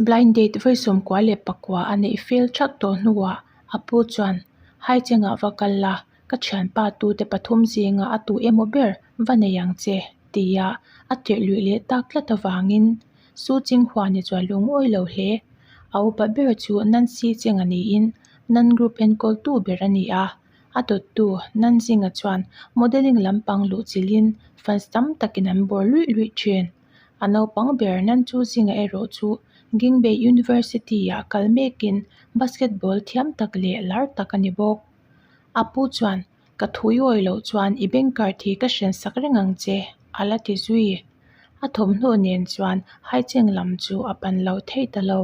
Blind date vawi sawmkua leh pakua a neih fel that tawh hnuah a pu chuan Hai chengah va kal la, ka thianpa tute pathum zinga a tu emaw ber va nei ang che, ti a a tirhluih leh tak tlat avangin Su Chinghua ni chuan lung awi lo hle, a upa ber chu Nancy Cheng a niin nan group enkawltu ber a ni a. A dawttu Nanjinga chuan modelling lampang luh chilhin fans tam takin an bawr luih luih thin. A naupang ber Nanjuzing erawh chu Gingbei University-ah kal mekin basketball thiam tak leh lar tak a ni bawk. A pu chuan, Ka thuiawi loh chuan i banker thi ka hrian sak reng ang che, a la ti zui. A thawmhnaw nen chuan Haicheng lam chu a pan lo thei ta lo.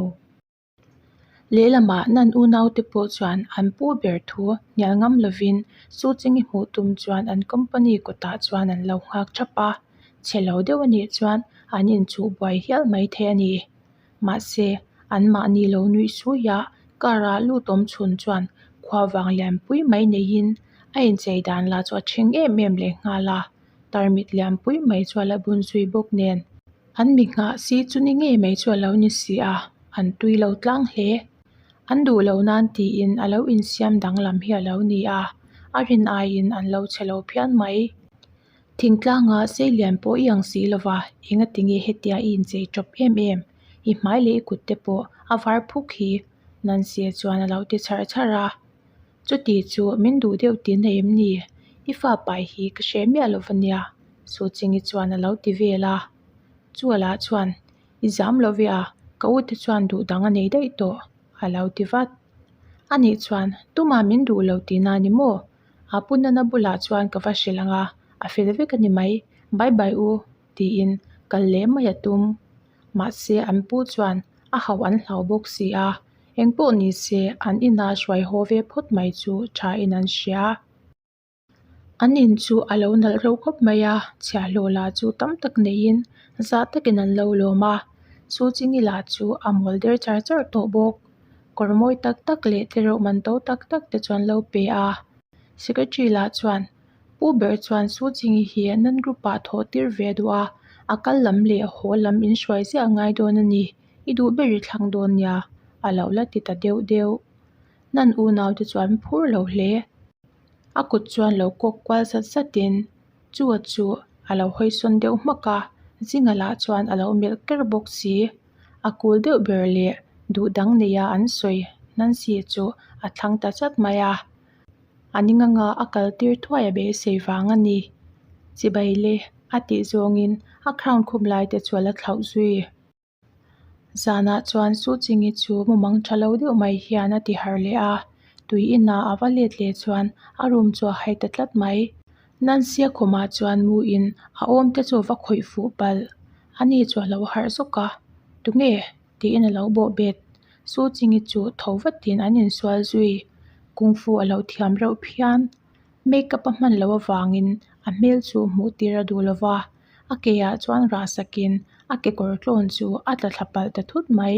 Lehlamah nan unaute pawh chuan an pu ber thu hnial ngam lovin Su Chingi hmuh tum chuan an company kawtah chuan an lo nghak thap a, chhe lo deuh a nih chuan an inchuh buai hial mai thei a ni. Mahse, an mahni lo nuih suiah car a lut awm chhun chuan khua vang lianpui mai neiin a inchei dan lah chu a ṭhing em em lehnghal a. Tarmit lianpui mai chu a la bun zui bawk nen, an mi nghah si chu ni ngei mai chu a lo ni si a, an tui lo tlang hle. An duh lo nan tiin a lo insiam danglam hi a lo ni a, a rin aiin an lo che lo phian mai. Thingtlanga sei lian pawh i ang si lo va, engati nge hetia i inchei tawp em em? I hmai leh i kutte pawh a var phuk hi? Nansia chuan a lo ti char char a. Chuti chu min duh deuh tih na em ni? I fapa hi ka hreh miah lo vania, Su Chingi chuan a lo ti vel a. Chual ah chuan, I zam lo ve a, ka u te chuan duh dang a nei daih tawh, a lo ti vat. A nih chuan, Tuma min duh lo tih na ni maw? A pu nana bulah chuan ka va hrilh ang a, a fel vek a ni mai, bye bye u. Tiin kal leh mai a tum. Mahse an pu chuan a hauh an hlau bawk si a, engpawh ni se an ina hruai haw ve phawt mai chu tha in an hria a. An in chu a lo nalh reuh khawp mai a, chhia hlaw lah chu tam tak neiin zah takin an lo lawm a. Chu chi ngi lah chu a mawl der char char tawh bawk. Kawr mawi tak tak leh tlereuh man to tak tak te chuan lo pe a. Secretary lah chuan Pu Ber chuan Su Chingyi hi nan group-ah thawh tir ve duh a, a kal lam leh a haw lam in hruai ziah a ngai dawn a ni. I duh ber i thlang dawn nia, a lo la ti ta deuh deuh. Nan unau te chuan phur lo hle. A kut chuan lo kawk kual zat zat in chu a chu a lo hawisawn deuh hmak a, Jing-a lah chuan a lo melh ker bawk si. A kul deuh ber leh duh dang neia an sawi Nancy-a chu a thlang ta zat mai a, A ning anga a kal tir thuai a beisei vang a ni. Chibai le, a tih zawngin a khrawn khum lai te chu a la thlauh zui. Zanah chuan Su Ching-i chu mumang tha lo deuh mai hian a ti har leh a. Tui inah a va let leh chuan a room chu a hai ta tlat mai. Nancy-a khawmah chuan mu in a awm te chu a va khawih fuh palh. A ni chu a lo harh zawk a. Tunge? tiin a lo bawhbet. Su Ching I chu tho vat tiin an insual zui. Kung fu a lo thiam reuh phian make up a hman loh avangin a hmel chu hmuh tir a duh lova. A ke ah chuan rah sakin a kekawr tlawn chu a tla thla palh ta thut mai.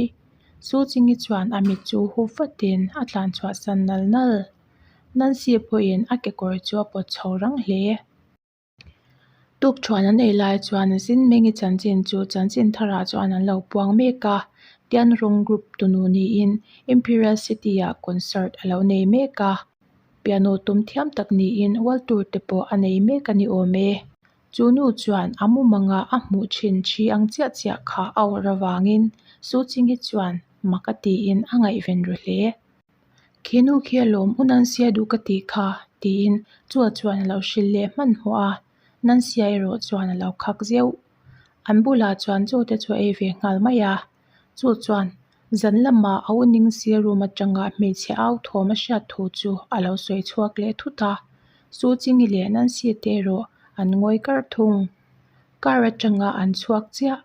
Su Ching I chuan a mit chu hup vat tiin a tlan chhuah san nal nal. Nancy pawhin a kekawr chu a pawt chho rang hle. Tukṭhuan an ei lai chuan zin meng i chanchin chu chanchin tharah chuan an lo puang mek a. Tian Rawng Group tunu niin Imperial City ah concert a lo nei mek a. Piano tum thiam tak niin World Tour te pawh a nei mek a ni awm e. Chu nu chuan a mumang a a hmuh ṭhin ṭhi ang chiah chiah kha a awrh avangin Su Ching hi chuan mak a tiin a ngaihven ru hle. Khenu khia lawm u nan sia duh ka tih kha, tiin Chua chuan a lo hrilh leh hman hmawh a, nan sia erawh chuan a lo khak ziau. An bulah chuan Chu te chu a ei ve nghal mai a, Chu chuan zan lamah a uning sir rum atanga hmeichhe au thawm a hriat thu chu a lo sawi chhuak leh thut a, Su Chingi leh Nancy te erawh an ngawi kar thung. Car atanga an chhuak chiah.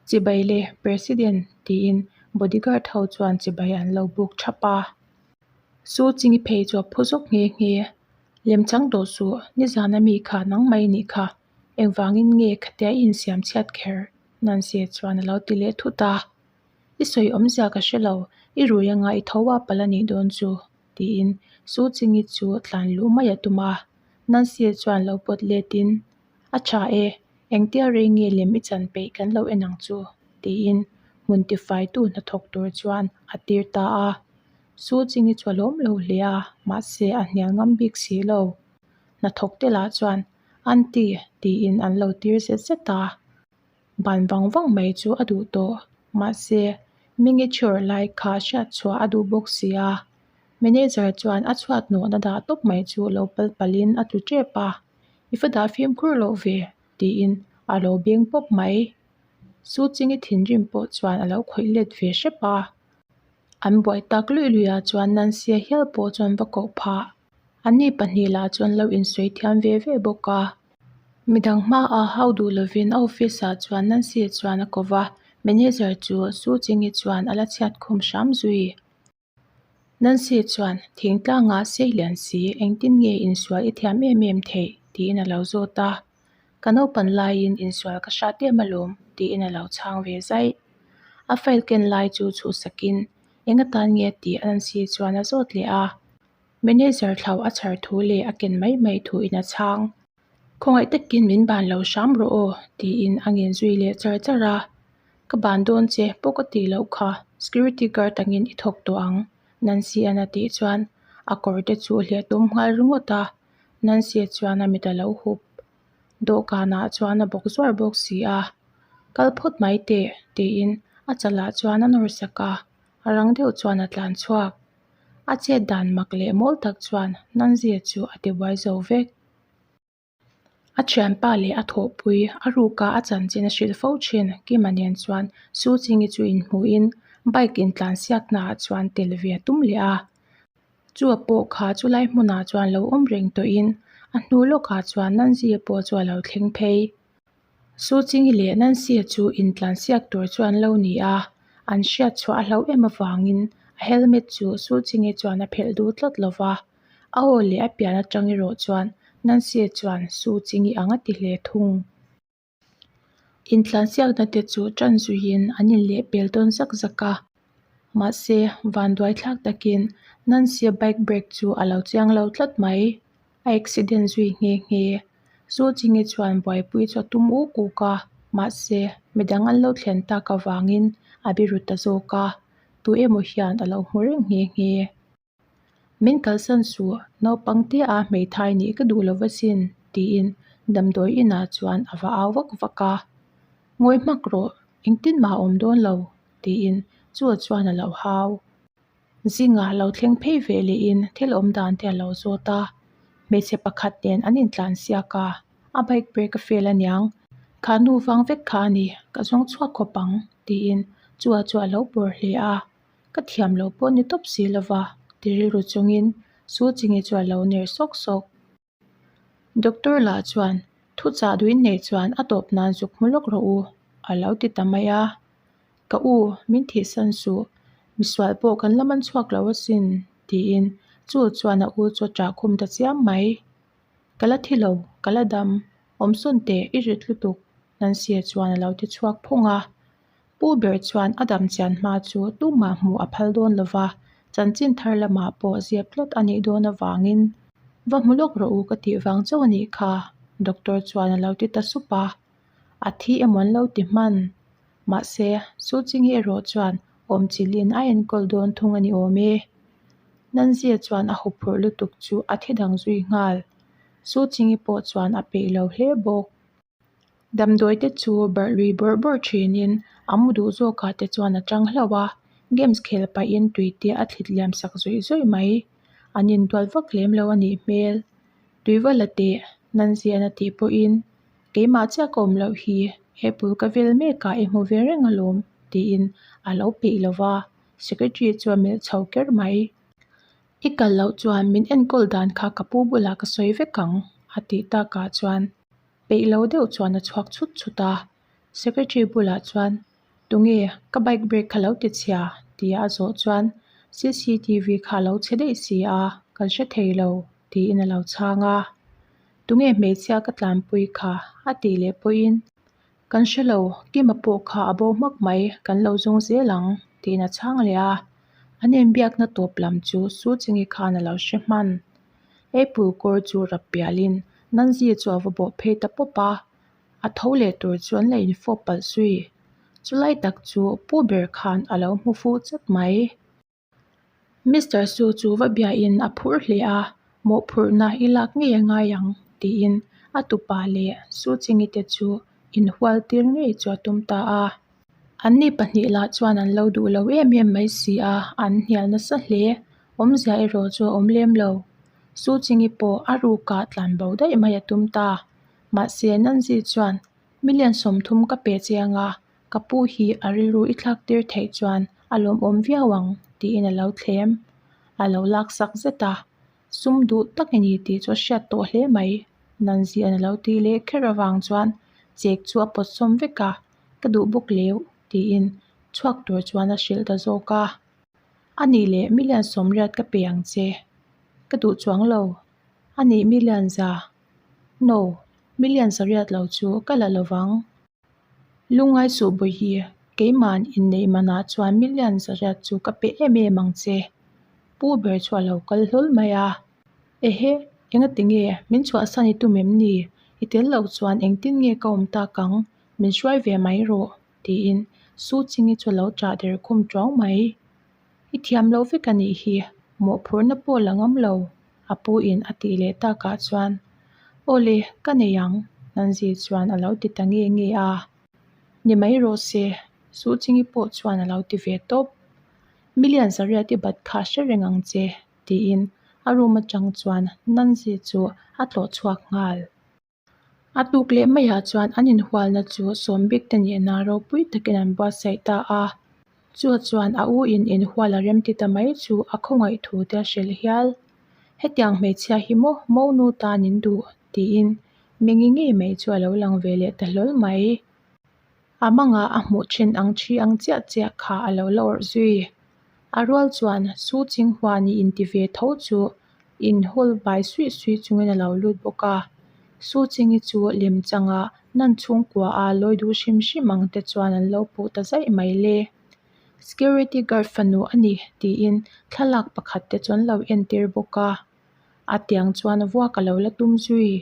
Chibai le President tiin bodyguard ho chuan chibai an lo buk thap a. Su Ching-i phei chu a phu zawk nghe nghe. Lem chang dawh suh, nizan ami kha nangmai nih kha engvangin nge khatia i insiam chhiat kher nan se chuan a lo ti leh thut a. I sawi awm zia ka hre lo, i rui anga i tho a pal a nih dawn chu, tiin Su Ching-i chu tlan luh mai a tum a. Nan se chuan lo pawt letin A tha e, engtia rei nge lem i chan peih kan lo en ang chu? tiin hmun tifaitu hnathawk tur chuan a tir ta a. Su Ching i chhualawm lo hle a, mahse a hnial ngam bik si lo. Hnathawkte lah chuan, Aunty, tiin an lo tir zet zet a. Ban vang vang mai chu a duh tawh. Mahse, miniature lai kha hriat chhuah a duh bawk si a, manager chuan a chhuat nuahna dah tawp mai chu lo pal pal in a tlu tep a, I fatah fimkhur loh ve, tiin a lo beng pawp mai. Su Chingi thinrim pawh chuan a lo khawih let ve hrep a, an buai tak lui lui ah chuan Nancy-a hial pawh chuan va koh phah. An ni pahnih lah chuan lo insawi thiam ve ve bawk a. Midang hmaa hau duh lovin a office ah chuan Nancy a chuan a kawva, Manager chu Su Ching hi chuan a la chhiat khum hram zui. Nancy a chuan, Thingtlangah sei lian si, engtin nge insual i thiam em em theih? tiin a lo zawt a. Ka naupan laiin insual ka hrat em alawm, tiin a lo chhang ve zaih. A file ken lai chu chhuhsak in, Enga tan nge? tih a Nancy chuan a zawt leh a. Manager thlau a chhar thu leh a ken mai mai thu in a chhang. Khawngaih takin min ban lo hram rawh aw tiin a ngen zui leh char char a, ka ban dawn che paw ka ti loh kha, security guard angin i thawk tawh ang Nancy an a tih chuan a kawr te chu a hliah tum nghal ringawt a, Nancy a chuan a mit a lo hup dawhkan ah chuan a bawk zuar bawk si a, kal phawt mai teh tiin a chalah chuan a nawr sak a. a rang deuh chuan a tlan chhuak a chet dan mak leh mawi tak chuan Nanzia chu a ti buai zo vek a thianpa leh a thawhpui a ruka a chanchin a hrilh fo thin Kima nen chuan Su Chingi chu in hmuh in bike in tlan siak na ah chuan tel ve a tum leh a chu a pawh kha chu lai hmunah chuan lo awm reng tawh in a hnu lawk ah chuan Nanzia pawh chu a lo thleng phei. Suching hi leh nan sia chu intlan siak tur chu an lo ni a an hriat chhuah a hloh em avangin a helmet chu Suching e chuan a phelh du tlat lo va aw leh a pian atang erawh chuan nan sia chuan Suching i anga ti hle thung intlan siakna te chu tan zui in an in leh pel dawn zak zak a mahse vanduai thlak takin nan sia bike break chu a lo chiang lo tlat mai. a accident zui nghe nghe e Sawlchinge chuan buaipui chu a tum uk uk a mahse midang an lo thlen tak avangin a biru ta zawk a tu emaw hian a lo hmu reuh nghe nghe e min kalsan suh naupang te a hmeithai nih ka duh lo va sin tiin damdawi inah chuan a va au vak vak a ngawi hmak rawh engtin mah awm dawn lo tiin chu a chuan a lo hau. Zingah lo thleng phei ve lêin thil awm dan te a lo zâwt a, hmeichhe pakhat nen an intlan siak a, a bike brake a fail a niang, kha nu vang vek kha a ni, ka zawng chhuak khawp ang, tiin Chua chu a lo pawr hle a, ka thiam loh pawh ni tawp si lo va, ti rilru chungin Su Ching-i chu a lo ner sawk sawk. Doctor lah chuan, Thu chah duin neih chuan a tawp nan zuk hmu lawk rawh u, a lo ti ta mai a. Ka u, min thihsan suh, misual pawh kan la man chhuak lo asin, tiin chu chuan a u chu a ṭah khum ta chiam mai. Ka la thi lo, ka la dam, awmsawn teh i rit lutuk nan sia chuan a lo ti chhuak phung a. Pu Ber chuan a dam chian hma chu tumah hmuh a phal dawn lo va, chanchin thar lamah pawh ziak tlawt a nih dawn avangin, Va hmu lawk rawh u ka tih vang chauh a nih kha. Doctor chuan a lo ti ta sup a, A thi emaw an lo ti hman. Mahse, Su Chi Nge erawh chuan awmchilhin a enkawl dawn thung a ni awm e. Nanzia chuan a huphurh lutuk chu a thi dang zui nghal. Su Chi Nge pawh chuan a peih lo hle bawk. Damdawi te chu barh lui bawrh bawrh thin in a mu duh zawk ah te chuan a chang hlauh a, games khel paih in tui te a thlit liam sak zawih zawih mai. An in dual vak lem lo a nih hmel. Tui va la teh, nan zian a tih pawh in, keimah chiah ka awm loh hi, he pul ka vel mek ah i hmu ve reng alawm tih in a lo peih lo va, secretary chuan melh chho ker mai. I kal loh chuan min enkawl dan kha ka pu bulah ka sawi vek ang a tih tak ah chuan, peih lo deuh chuan a chhuak chhut chhut a secretary bulah chuan tunge ka bike brake kha lo ti chhia tia a zawh chuan cctv kha a lo chhe daih si a ka hre thei lo tiin a lo chhang a tunge hmeichhia ka tlanpui kha a tih leh pawhin Kan hre lo, Kima pawh kha a bo hmak mai, kan lo zawng zel ang, tiin a chhang leh a. An enbiakna tawp lam chu Su Chingi khan a lo hre hman. Apple kawr chu rap pialin, Nanzia chu a va bawh phei ta pawp a, a tho leh tur chu an la infawp palh sui. Chulai tak chu Pu Ber khan a lo hmu fu chet mai. Mister Su chu va bia in a phur hle a, mawhphurhna i lak ngei a ngai ang, tiin a tupa leh Su Ching-i te chu inhual tir ngei chu a tum ta a. Anni pahnih lah chuan an lo duh lo em em mai si a, an hnial nasa hle. Awmzia erawh chu a awm lem lo. Su Ching-i pawh a rukah tlanbo daih mai a tum ta. Mahse, Nanzit chuan, Million sawmthum ka pe che anga, Ka pu hi a rilru i thlak tir theih chuan a lawmawm viau ang tiin a lo thlem, a lo laksak zet a. Sum duh tak i ni tih chu a hriat tawh hle mai. Nan zian a lo ti leh kher avang chuan chek chu a pawt sawm vek a, ka duh bawk leuh tiin chhuak tur chuan a hrilh ta zawk a. A nih leh milian sawmriat ka pe ang che, ka duh chuang lo, a nih milian za, no, milian sariat lo chu ka la lo vang. Lungai Sawhbawi hi keima'n inneih manah chuan million zariat chu ka pe em em ang che. Pu ber chu a lo kal hlawl mai a, Ehe, enga ti nge? Min chhuah san i tum em ni? I tel loh chuan engtin nge ka awm tak ang? Min hruai ve mai rawh, tiin Su Chingi chu a lo chah der khum ṭawng mai. I thiam lo vek a nih hi, mawhphurhna pawh la ngam lo, a pu in a tih leh tak ah chuan. Aw le, ka nei ang, Nanzi chuan a lo ti ta nge nge a. Ni mai rawh se, Su Chingi pawh chuan a lo ti ve tawp. Million Zariat i bat kha hre reng ang che, tiin a room atang chuan Nanzi chu a tlawh chhuak nghal. A tuk leh maiah chuan an inhualna chu sawmbik te nih na ropui takin an buatsaih ta a, chu chuan a u in inhual a remti ta mai chu a khawngaih thu te a hrilh hial. Hetiang hmeichhia hi mo mo nu tanin duh tiin mi ngi ngi mai chu a lo lang ve leh ta hlawl mai. A manga a hmuh thin ang thi ang chiah chiah kha a lo la awrh zui. A rual chuan Su Ching Hua nih in ti ve tho chu in hul bai suih suih chungin a lo lut bawk a. Su Chingi chu lem changa nan chhungkua a lawi duh hrim hrim ang te chuan an lo puh ta zaih mai le. Security guard fanu a ni tiin thlalak pakhat te chu an lo entir bawk a. A tiang chuan a vuak a lo la tum zui.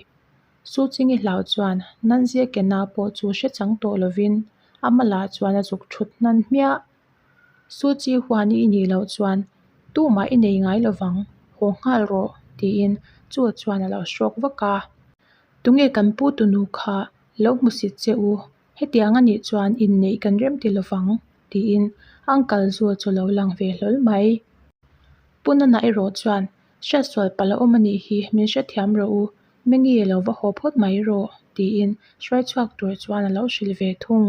Su Chingi hlau chuan nan zia ke na pawh chu hre chang tawh lovin a hma lah chuan a zuk thut hnan hmiah. Su Chi huan i nih loh chuan tumah i nei ngai lovang, haw nghal rawh tiin Chu chuan a lo hrawk vak a. Tunge kan pu tunu kha lo hmusit che u. hetianga nih chuan inneih kan rem ti lovang tiin uncle chu chu lo lang ve hlawl mai punana erawh chuan hriat sual pal a awm a nih hi min hre thiam rawh u mengi lo va haw phawt mai rawh tiin hruai chhuak tur chuan a lo hrilh ve thung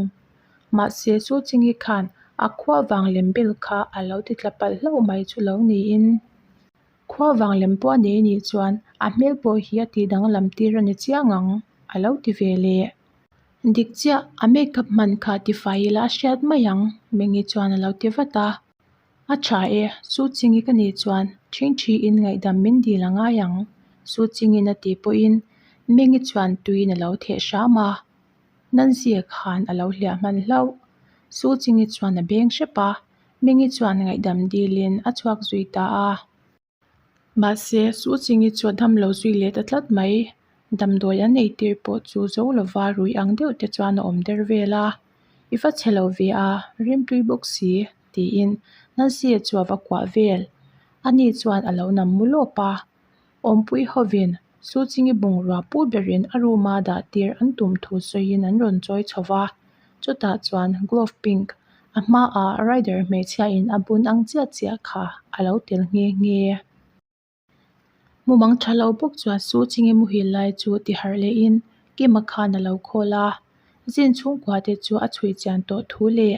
mahse chu chi nge khan a khua vang lem ber kha a lo ti tla palh hlauh mai chu lo niin khua vang lem pawh a nei a nih chuan a hmel pawh hi a tih dang lam tir a ni chiang ang a lo ti ve leh. Dik chiah, a makeup hman kha tifai ila a hriat mai ang, Mengi chuan a lo ti vat a, A tha e, Su Chingi ka nih chuan ṭhing ṭhi in ngaihdam min dil a ngai ang, Su Chingin a ti pawhin Mengi chuan tuiin a lo theh hram a, Nan zia khan a lo hliah hman hlauh. Su Chingi chuan a beng hrep a, Mengi chuan ngaihdam dilin a chhuak zui ta a. Mahse, Su Chingi chuan hamlo zui let a tlat mai. Damdawi an eitir pawh chu zo lova ruih ang deuh te chuan a awm der vel a, I va chhe lo ve a, rimtui bawk si, tiin Nancy-a chuava kuah vel. Ani chuan a lo nam mulawp a, Awmpui hovin. Su Chingi bungrua pu berin a room a dah tir an tum thu sawiin an rawn chawi chho va, chutah chuan glove pink a hmaah rider hmeichhia in a bun ang chiah chiah kha a lo tel nghe nghe a. Mumang tha lo bawk chuan Su Chingi muhil lai chu tiharh leh in Kima khan a lo call a, zin chhungkua te chu a chhui chian tawh thu leh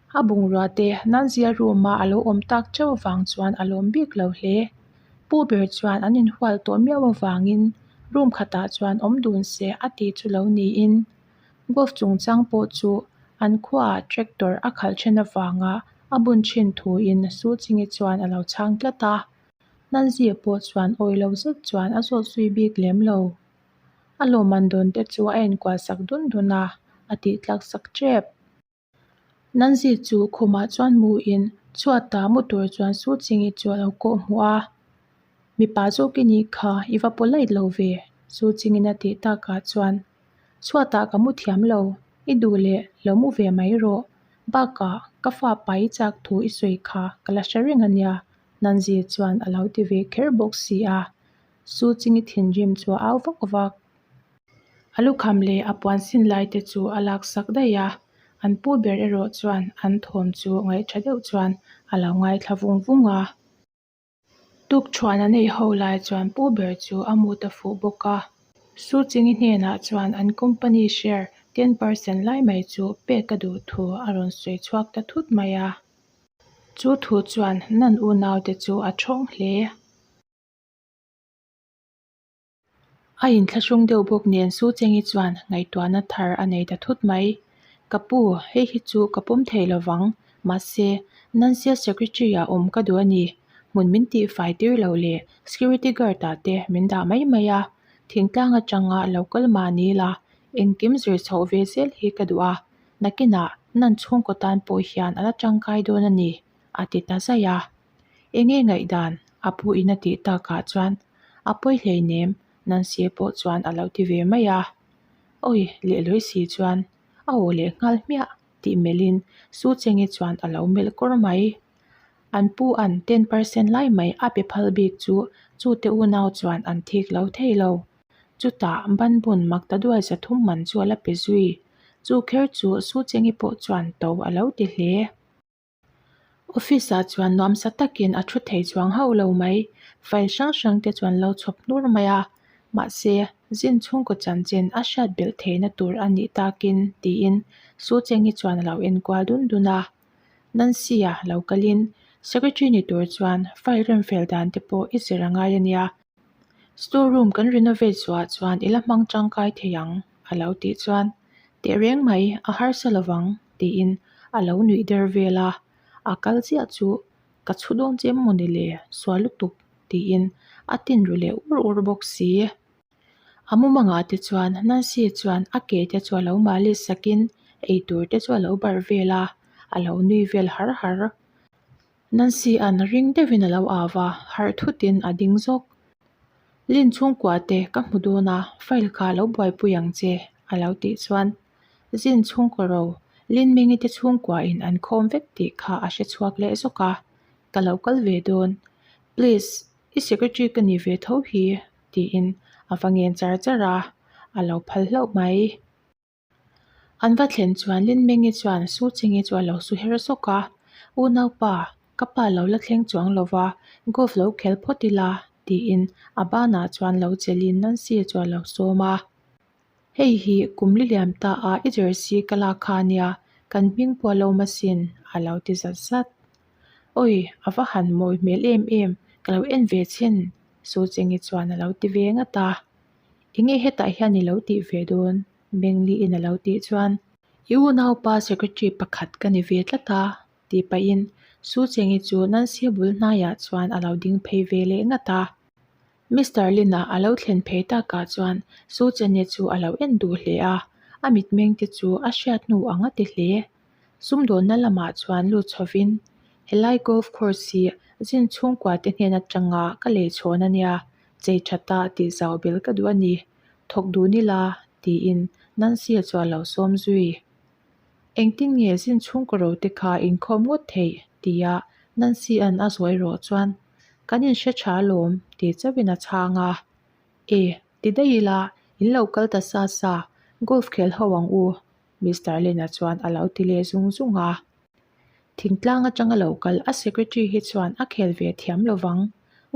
A bungrûate nan zia rûma a lo awm tâk chauh avâng chuan a lâwm bîk lo hle. Pu Ber chuan an inhual tawh miau avângin room khatah chuan awm dun se a ti chu lo niin, Guv chungchâng pawh chu an khuaah tractor a khalh ṭhen avânga a bun ṭhin thuin Su Chinge chuan a lo chhâng tlat a. Nan zia pawh chuan awi lo zet chuan a zawt zui bîk lem lo. A lâwm an dawnte chu a enkual sak dun dun a, a tih tlak sak ṭep. Nanzhi chu khumah chuan mu in chhuat ta mu tur chuan su ching ih chu a lo kawh hmu a, mipa zawk i nih kha, i va polite lo ve, su ching in a tih tak ah chuan chhuat ah ka mu thiam lo, i duh leh lo mu ve mai rawh, bak ah ka fa pai i chak thu i sawi kha ka la hre reng a nia, Nanzhi chuan a lo ti ve kher bawk si a. Su Ching-i thinrim chu a au vak a va. A lukham leh a puan sin lai te chu a lak sak daih a, an pu ber erawh chuan an thawm chu ngaih tha deuh chuan a lo ngai thla vung vung a. Tukchhuan a neih ho lai chuan pu ber chu a mut a fuh bawk a. Su Ching-i hnenah chuan an company share ten percent lai mai chu pek a duh thu a rawn sawi chhuak ta thut mai a. Chu thu chuan nan unaute chu a thawng hle. A in thla hrawng deuh bawk nen Su Cheng-i chuan ngaihtuahna thar a nei ta thut mai. Ka pu, hei hi chu ka pawm thei lo vang. Mahse, nan zia secretary-a awm ka duh a ni. Hmun min tih fai tir lo leh security guard-a te min dah mai mai a. Thingtlang atanga lo kal mah ni ila, engkim zir chhoh ve zel hi ka duh a. Nakinah nan chhungkaw tan pawh hian a la tangkai dawn a ni. A ti ta zai a, eng nge ngaihdan a pu in a tih tak ah chuan a pawi hleinem Nancy-a pawh chuan a lo ti ve mai a, Awi leh Loisy chuan a aw leh nghal hmiah tih melh in Su Cheng-i chuan a lo melh kawr mai. An pu an ten percent lai mai a pe phal bik chu chute unau chuan an thik lo thei lo. Chutah Banbun Magtaduai Zathum Manchuala pe zui chu kher chu Su Cheng-i pawh chuan to a lo ti hle. Office ah chuan nuam sa takin a thu thei chuang hauh lo mai. File hrang hrang te chuan lo chhawp hnur mai a, mahse, zin chhungkaw chanchin a hriat belh theihna tur a nih takin tiin Su Cheng-i chuan a lo enkual dun dun a. Nancy-a lo kalin, Secretary ni tur chuan file remfel dan te pawh i zer a ngai a nia. Store room kan renovate suah chuan ila hmang tangkai thei ang, a lo tih chuan. Teh reng mai, a harsa lo vang, tiin a lo nuih der vel a. A kal chiah chu, Ka chhu dawn che maw ni le, suah lutuk, tiin a tin ru leh ur ur bawk si. A mumangah te chuan Nancy chuan a ke te chu a lo mali sakin, ei tur te chu a lo barh vel a, a lo nui vel har har. Nancy-an ring deuhin a lo au va, harh thutin a ding zawk. Lin chhungkua te ka hmu dawn a, file kha lo buaipui ang che, a lo tih chuan Zin chhungkaw ro, Lin Mengi te chhungkua in an khawm vek tih kha a hre chhuak leh zawk a, ka lo kal ve dawn. Please, i secretary ka nih ve tho hi, tiin a va ngen char char a, a lo phal hlauh mai. An va thlen chuan Linmengi chuan Suchingi chu a lo su her sawk a, U naupa, ka pa lo la thleng chuang lo va, golf lo khel phawt ila, tiin a banah chuan lo chelhin Nancy-a chu a lo sawm a. Hei hi kum li liam ta a, i jersey ka lak kha a nia, kan hming pawh a lo masin, a lo ti zat zat. Awi, a va han mawi hmel em em, ka lo en ve chin, Suchingi chuan a lo ti ve ngat a. Enge hetah hian i lo tih ve dawn? Bengli in a lo tih chuan. I unaupa secretary pakhat ka ni ve tlat a, tih pahin Su Chengyi chu Nancy-a bul hnaiah chuan a lo ding phei ve leh ngat a. Mister Lin-a a lo thlen phei takah chuan Su Chenya chu a lo en duh hle a, a mitmeng te chu a hriat hnu ang a ti hle. Sumdawnna lamah chuan lut chhovin, Helai golf course hi zin chhungkua te hnen atanga ka lei chhawn a nia, chei tha ta tih zau bel ka duh a ni. Thawk duh ni la, tiin Nancy a chuah lo sawm zui. Engtin nge zin chhungkaw ro te kha inkhawm ngawt theih? tia Nancy an a zuai rawh chuan, Kan inhre tha alawm, ti chauhin a chhang a. E, ti daih ila, in lo kal ta sa sa, golf khel ho ang u, Mister Lena chuan a lo ti leh zung zung a. Thingtlang atang a lo kal a, Secretary hi chuan a khel ve thiam lo vang.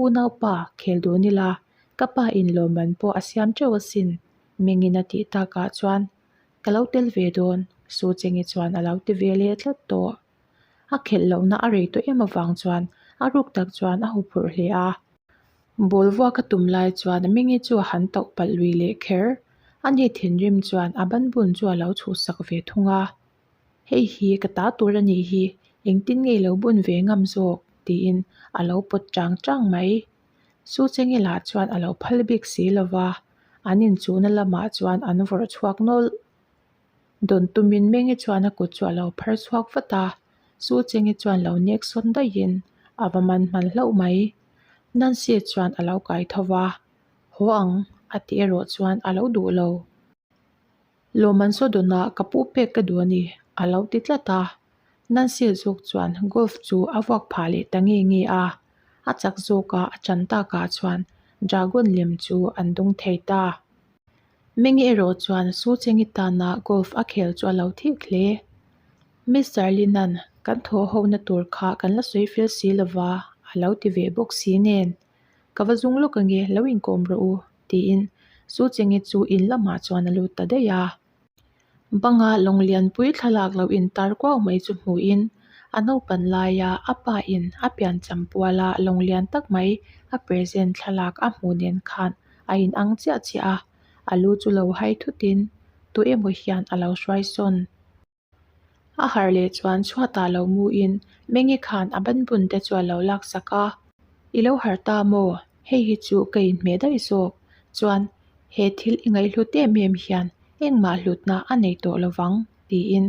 Unaupa, khel dun ila, ka pa in lawmman pawh a siam teuh asin. Mengin a tih takah chuan, Ka lo tel ve dawn, Su Cheng-i chuan a lo ti ve leh tlat tawh. A khelh lohna a rei tawh em avang chuan a ruk tak chuan a hu phurh hle a. Ball vuak a tum lai chuan a mingi chu a han tauh palh lui leh kher. A ni thinrim chuan a ban bun chu a lo chhuhsak ve thung a, hei hi ka ta tur a nih hi, engtin nge i lo bun ve ngam zawk? tiin a lo pawt chang chang mai. Su Chenge lah chuan a lo phal bik si lo va, an inchuhna lamah chuan an vawrh chhuak nawlh. Dawn tumin Menge chuan a kut chu a lo phar chhuak vat a, Su Chenge chuan lo nek sawn daihin, A va man hman hlauh mai. Nancy-a chuan a lo kai tho va, Haw ang, a tih erawh chuan a lo duh lo. Lawmman saw dawnah ka puh pek ka duh a ni, a lo ti tlat a. Nancy-a zawk chuan golf chu a vuak phah leh ta nge nge a, a chak zawk a, a chan takah chuan dragon lem chu an dawng thei ta. Menge erawh chuan Suchengittana golf a khel chu a lo thih hle. Mister Lin-a'n kan thaw ho na tur kha kan la sawi fel si lo va, a lo ti ve bawk si nen, Ka va zung lawk ange, lo inkawm rawh u, tiin Suchengi chu in lamah chuan a lut ta daih a. Banga Lawngelianpuii thlalak lo in tar kuau mai chu hmuh in a naupan laia a pa in a pian cham pual a lawngelian tak mai a present thlalak a hmuh nen khan a in ang chiah chiah a, a lu chu lo hai thut in tu emaw hian a lo hruai sawn. A harh leh chuan chhuat ah lo mu in Menge khan a banbun te chu a lo lak sak a, I lo harh ta maw? hei hi chu ka inhmeh daih zawk chuan he thil i ngaihhlut em em hian engmah hlutna a nei tawh lovang tiin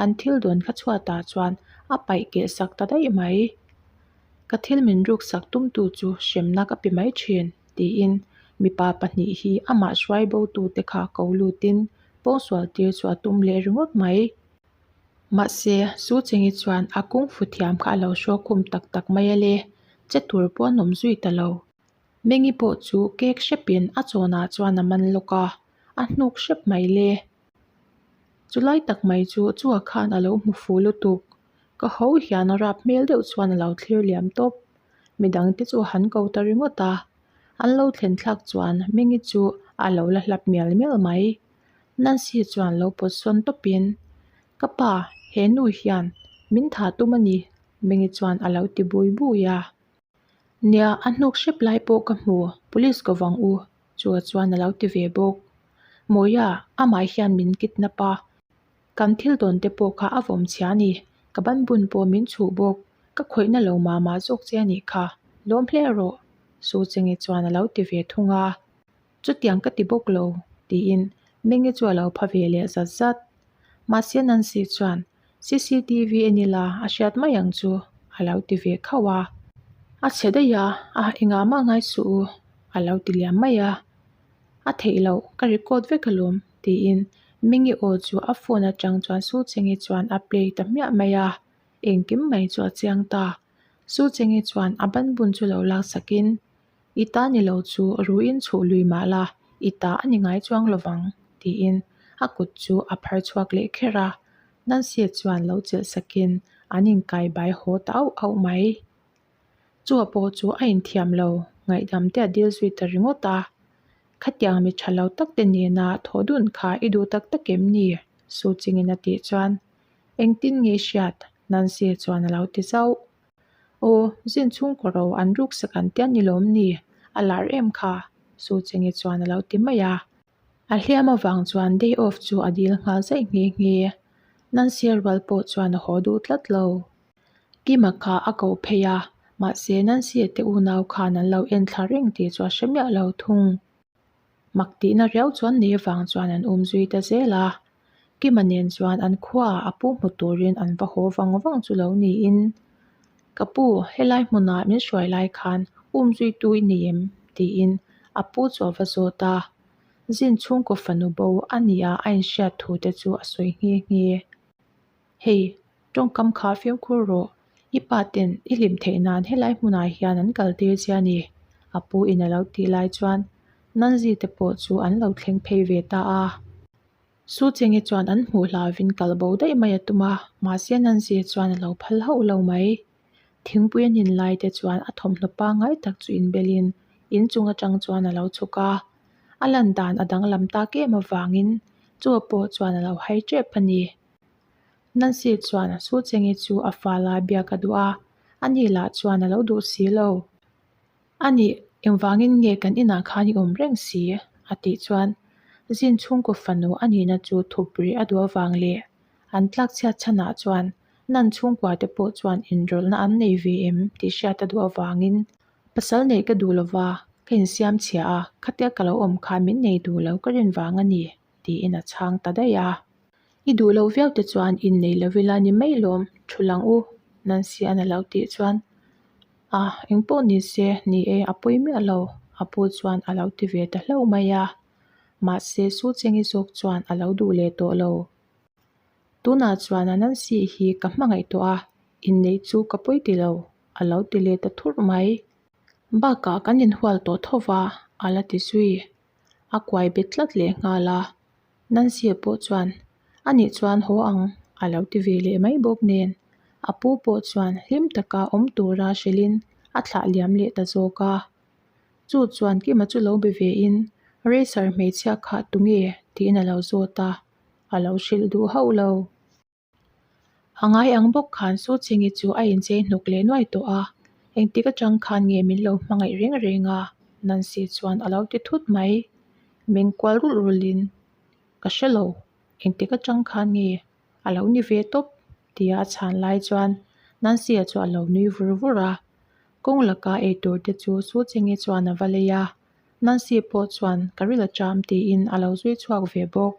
an thil dawn thla chhuatah chuan a paih keh sak ta daih mai ka thil min ruksak tum tu chu hremna ka pe mai thin tiin mipa pahnih hi amah hruai bo tute kha ko lutin pawngsual tir chu a tum leh ringawt mai. Mahse, Su Chengi chuan a kungfu thiam kha a lo hruakhum tak tak mai ale, che tur pawh a nawm zui ta lo. Mengi pawh chu kek hrepin a chawnah chuan a man lawk a, a hnuk hrep mai le. Chu lai tak mai chu chua khan a lo hmu fu lutuk. Ka ho hian a rap hmel deuh chuan a lo thlir liam tawp. Midang te chu a han ko ta ringawt a, an lo thlen thlak chuan Mengi chu a lo la hlap mial mial mai. Nancy chuan lo pawtsawn tawpin, Ka pa, he nu hian min tha tum a ni, Mengi chuan a lo ti bui bui a. Nia, a hnuk hrep lai pawh ka hmu, police ko vang u, Chua chuan a lo ti ve bawk. Mawia, amah hian min kidnap a, kan thil dawn te pawh kha a vawm chhia a ni, ka ban bun pawh min chhuh bawk, ka khawihna lo mah mah zawk che a nih kha, lawm hle rawh, Su Chengi chuan a lo ti ve thung a. Chutiang ka ti bawk lo, tiin Menge chu a lo pha ve leh zat zat. Mahse Nancy chuan, CCTV en ila a hriat mai ang chu a lo ti ve khauh a. A chhe daih a, a engah mah ngai suh u, a lo ti liam mai a. A theih loh, ka record vek alawm, tiin Menge aw chu a phone atang chuan Su Chenge chuan a play ta hmiah mai a, engkim mai chu a chiang ta. Su Chenge chuan a banbun chu lo laksak in. I ta ni lo chu ru in chhuh lui mah la, i ta a ni ngai chuang lo vang, tiin a kut chu a phar chhuak leh kher a, Nancy-a chuan lo chelh sakin an inkai bai haw ta auh auh mai. Chu a paw chu a inthiam lo, ngaihdam te a dil zui ta ringawt a, Khatiang mi tha lo tak te nena thaw dun kha i duh tak tak em ni? Su Ching-in a tih chuan, Engtin nge hriat? Nancy-a chuan a lo ti zauh. Aw, zin chhung ka ro, an ruksak an tia ni lawm ni? A lar em kha. Suchenge chuan a lo ti mai a. A hliam avang chuan day off chu a dil nghal zai nghe nghe. Nancy-a rual pawh chuan a haw duh tlat lo. Kim-a kha a ko phei a, mahse Nancy-a te unau khan an lo en thla reng tih chu a hre miah lo thung. mak tihna riau chuan nei avang chuan an awm zui ta zel a kima nen chuan an khua a pu hmu turin an va haw vang vang chu lo niin ka pu helai hmunah min hruai lai khan um zui tu i nei em tiin a pu chu a va zawt a zin chhungkaw fanu bo a nia a inhriat thu te chu a sawi nghe nghe. Hei, tawngkam kha femkhur rawh, i pa ten i hlim theih nan helai hmunah hian an kal tir che a ni, a pu in a lo tih lai chuan Nanzi te pawh chu an lo thleng phei ve ta a. Su Chenge chuan an hmuh hla vin kal bo daih mai a tum a, mahse Nanzi chuan a lo phal hauh lo mai. Thingpui a nin lai te chuan a thawmhnaw pangai tak chu inbel in in chung atang chuan a lo chhuk a, a lan dan a danglam tak em avangin chu a pawh chuan a lo hai tep a ni. Nancy chuan a Su Chengi chu a fa la biak a duh a, a ni lah chuan a lo duh si lo. A ni engvangin nge kan inah khan i awm reng si? a tih chuan Zin chhungkaw fanu a nihna chu thup rih a duh avang le an tlak chhiat chhanah chuan Nan chhungkua te pawh chuan inrawlhna an nei ve em? tih hriat a duh avangin pasal neih ka duh lo va, ka insiam chhia a, khatia ka lo awm kha min nei duh lo ka rinvang a ni. tiin a chhang ta daih a. I duh loh viau te chuan in nei lo ila ni mai lawm, thu lang u Nancy-a na lo tih chuan a eng pawh ni se ni e a pawi miah lo a pu chuan a lo ti ve ta hlauh mai a, mahse Su Chengi zawk chuan a lo duh leh tawh lo. Tunah chuan a Nancy hi ka hmangaih tawh a, in neih chu ka pawi ti lo a lo ti leh ta thurh mai. Bakah kan inhual tawh tho va a la ti zui. a kuai bet tlat leh nghal a, Nancy-a pawh chuan, A nih chuan haw ang, a lo ti ve leh mai bawk nen, a pu pawh chuan hlim taka awm tura hrilhin a thlah liam leh ta zawk a. Chu chuan Kim-a chu lo be ve in, Racer hmeichhia kha tunge? tiin a lo zawt a, a lo hrilh duh hauh lo. A ngai ang bawk khan Su Ching-i chu a inchei hnuk leh nuai tawh a, engtik atang khan nge min lo hmangaih reng reng a, Nancy chuan a lo ti thut mai. Min kual rul rulin, Ka hre lo, engtik atang khan nge a lo ni ve tawp? tia a chhan lai chuan Nancy-a chu a lo nui vur vur a. Kawng laka eitur te chu Su Ching-i chuan a va lei a. Nancy pawh chuan ka rilh a ṭam tiin a lo zui chhuak ve bawk.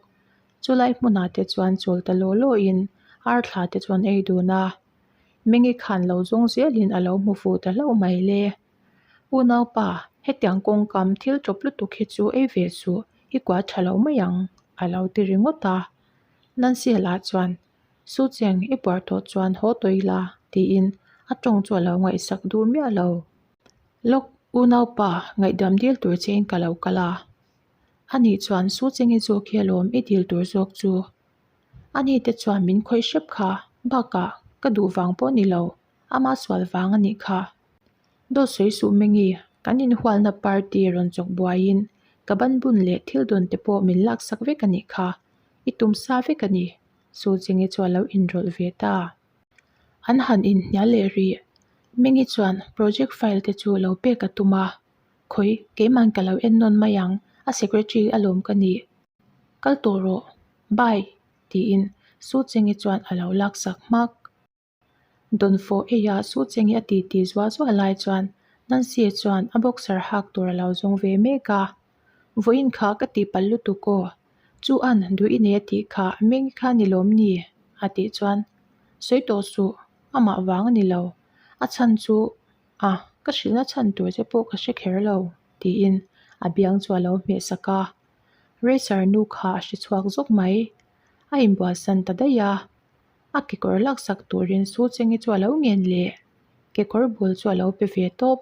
Chulai hmunah te chuan chawl ta law lawin arthla te chuan ei dun a, Mengi khan lo zawng zelin a lo hmu fuh ta hlauh mai le. U naupa, hetiang kawngkam thil tawp lutuk hi chu ei ve suh, i kua ṭha lo mai ang, a lo ti ringawt a. Nancy lah chuan Su Cheng i buar tawh chuan haw tawi la tiin a tawng chu a lo ngaihsak dur miah lo. Lawk, u naupa ngaihdam dil tur che in ka lo kal a, a nih chuan Su Cheng i zawk hi alawm i dil tur zawk chu ani te chuan min khawih hrep kha, bakah ka duh vang pawh ni lo Ama sual vang anih kha daw sawi suh meng i kan inhualna party rawn chawk buaiin ka ban bun leh thil dawn te pawh min lak sak vek anih kha i tum sa vek ani, Suchingi chu a lo inrawlh ve ta. An han inhnial leh rih mengi chuan project file te chu lo pek a tum a, Khawi, keiman ka lo en nawn mai ang, a secretary a lawm ka ni, kal tawh rawh, bye, tiin Suchingi chuan a lo lak sak hmak. Dawnfawh eia suh chengin a ti ti zual zual lai chuan Nancy a chuan a boxer hak tur a lo zawng ve mek a, vawiin kha ka tihpalh lutuk aw, chu an duh i nei a tih kha a meng i kha ni lawm ni? a tih chuan sawi tawh suh, amah vang a ni lo, a chhan chu a ka hrilhna chhan tur te pawh ka hre kher lo tiin a biang chu a lo hmehsak a, Racer nu kha a hre chhuak zawk mai, a inbualsan ta daih a. A kekawr lak sak turin shoe cheng hi chu alo ngen leh kekawr bul chu alo pe ve tawp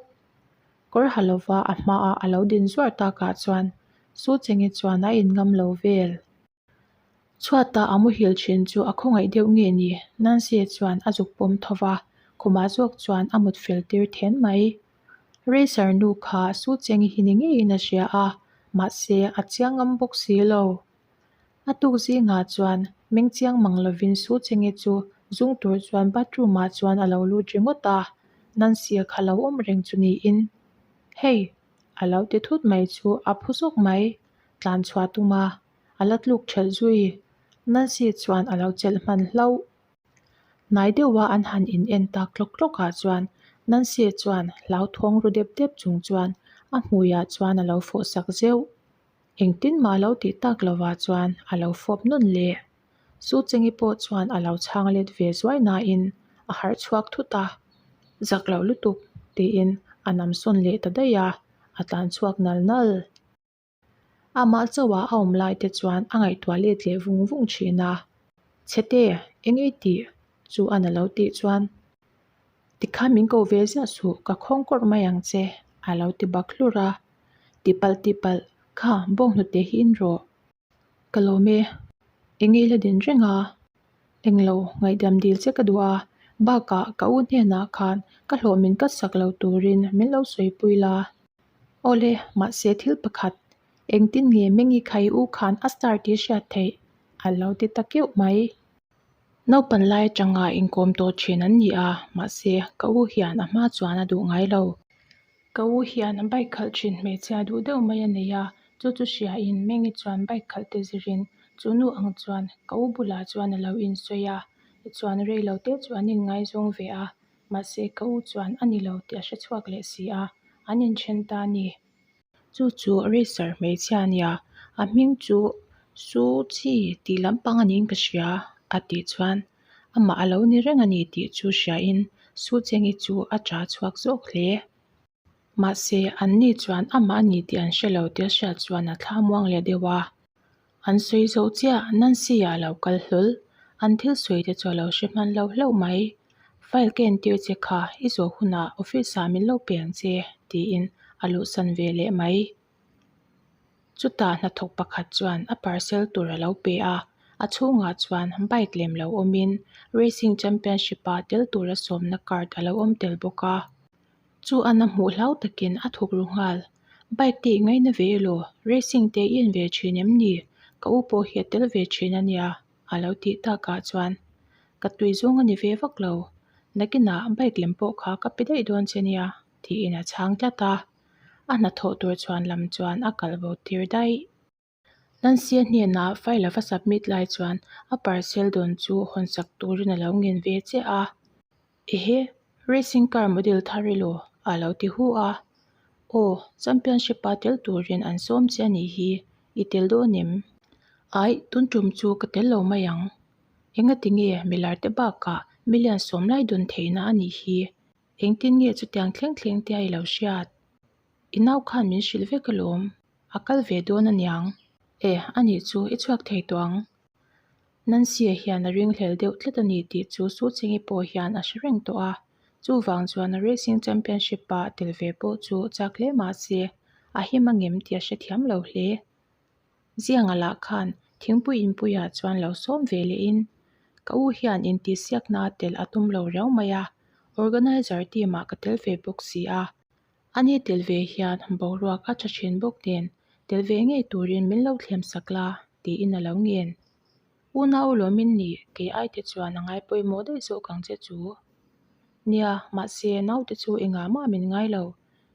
kawr ha lova a hmaah alo din zuar takah chuan shoe cheng hi chuan a in ngam lo vel chhuatah a muhil thin chu a khawngaih deuh nge ni Nancy-a chuan a zuk pawm thova khumah zawk chuan a mut fel tir then mai Razor nu kha shoe cheng hi ni ngeiin a hria a mahse a chiang ngam bawk si lo. A tuk zingah chuan meng chiang mang lovin Su Chenge chu zung tur chuan bathroom-ah chuan a lo lut ringawt a, nan siak ha lo awm reng chu niin. Hei! A lo ti thut mai chu a phu zawk mai, tlan chhuah tum a, a la tluk ṭhelh zui. Nancy chuan a lo chelh hman hlauh. Hnai deuha an han in en tak tlawk tlawkah chuan Nancy chuan hlauthawng ru dep dep chung chuan a hmuiah chuan a lo fawhsak zeuh. Engtin mah lo tih tak lovah chuan a lo fawp nawn le. Su Chengi pawh chuan a lo chhang let ve zuai nain a harh chhuak thut a, zak loh lutuk tiin a nam sawn leh ta daih a, a tlan chhuak nal nal. Amah chauhah a awm lai te chuan a ngaihtuah let leh vung vung thin a. Chhete, eng i tih? chu a na lo tih chuan Tikhan min ko ve ziah suh, ka khawng kawrh mai ang che, a lo ti bak hlur a. Tihpalh tihpalh, Kha, bawk hnute hi in rawh. Ka lawm e, i ngei la din reng a, eng lo ngaihdiam dil che ka duh a, bakah ka u hnenah khan ka hlawh min kat sak lo turin min lo sawipui la. Awle, mahse thil pakhat, engtin nge Mengikhai u khan a star tih hriat theih? A lo ti ta keuh mai. Naupan lai atanga inkawm tawh thin an ni a, mahse, ka u hian a hma chuan a duh ngai lo. Ka u hian bike khalh thin hmeichhia duh deuh mai a nei a, chu chu hriain Mengi chuan bike khalh te zirin chu nu ang chuan ka u bulah chuan a lo insawi a, chuan rei lo te chu an inngaizawng ve a, mahse, ka u chuan a ni lo tih a hre chhuak leh si a, an inthen ta a ni. Chu chu Racer hmeichhia a nia, a hming chu Suchi tih lampang a niin ka hria a tih chuan amah a lo ni reng a ni tih chu hriain Sucheng-i chu a ṭha chhuak zawk hle. Mahse, anni chuan amah a ni tih an hre lo tel hriat chuan a thla muang leh deuh a. An sawi zo chiah, Nancy a lo kal hlawl. An thil sawi te chu a lo hre hman lo hlauh mai. File ka entir che kha, i zawh hunah office ah min lo peng che, tiin a luhsan ve leh mai. Chutah hnathawk pakhat chuan a parcel tur a lo pe a. A chhungah chuan bike lem lo awmin Racing Championship a tel tura sawmna card a lo awm tel bawk a. Chu an a hmuh hlau takin a thuk ru nghal. Bike te i ngaih na ve elaw, racing te i en ve thin em ni? Ka u pawh hi a tel ve thin a nia, a lo tih takah chuan ka tui zawng a ni ve vak lo. Nakinah bike lem pawh kha ka pe daih dawn che nia, tiin a chhang tlat a. A hna thawh tur chhuan lam chuan a kal bo tir daih. Nansia hnenah file ava submit lai chuan a parcel dawn chu hawnsak turin alo ngen ve chiah a, Ehe, racing car model thar emaw? a lo ti hu a, Aw, championship a tel turin an sawm che a nih hi, i tel dawn em? Aih, tun tum chu ka tel lo mai ang, Engati nge milar te bakah million sawm lai dawn theihna a nih hi, engtin nge chutiang thleng thleng te a i lo hriat? I nau khan min hrilh vek alawm. A kal ve dawn a niang. Eh, a nih chu, i chhuak thei tawh ang. Nancy-a hian a ringhlel deuh tlat a ni tih chu Su Cheng-i pawh hian a hre reng tawh a. Chuvang chuan a Racing Championship-a tel ve pawh chu chak hle mah se, a him a ngem tih a hre thiam lo hle. Zianga lah khan, thingpui inpuiah chuan lo sawm ve lehin, ka u hian intihsiakna tel a tum lo riau mai a, organizer team-ah ka tel ve bawk si a, A ni tel ve hian boruak a tha thin bawk nen, tel ve ngei turin min lo thlem sak la tiin a lo ngen. Una u lawmin ni kei ai te chuan a ngai pawimawh daih zawh kang che chu. Nia, mahse naute chu engah mah min ngai lo,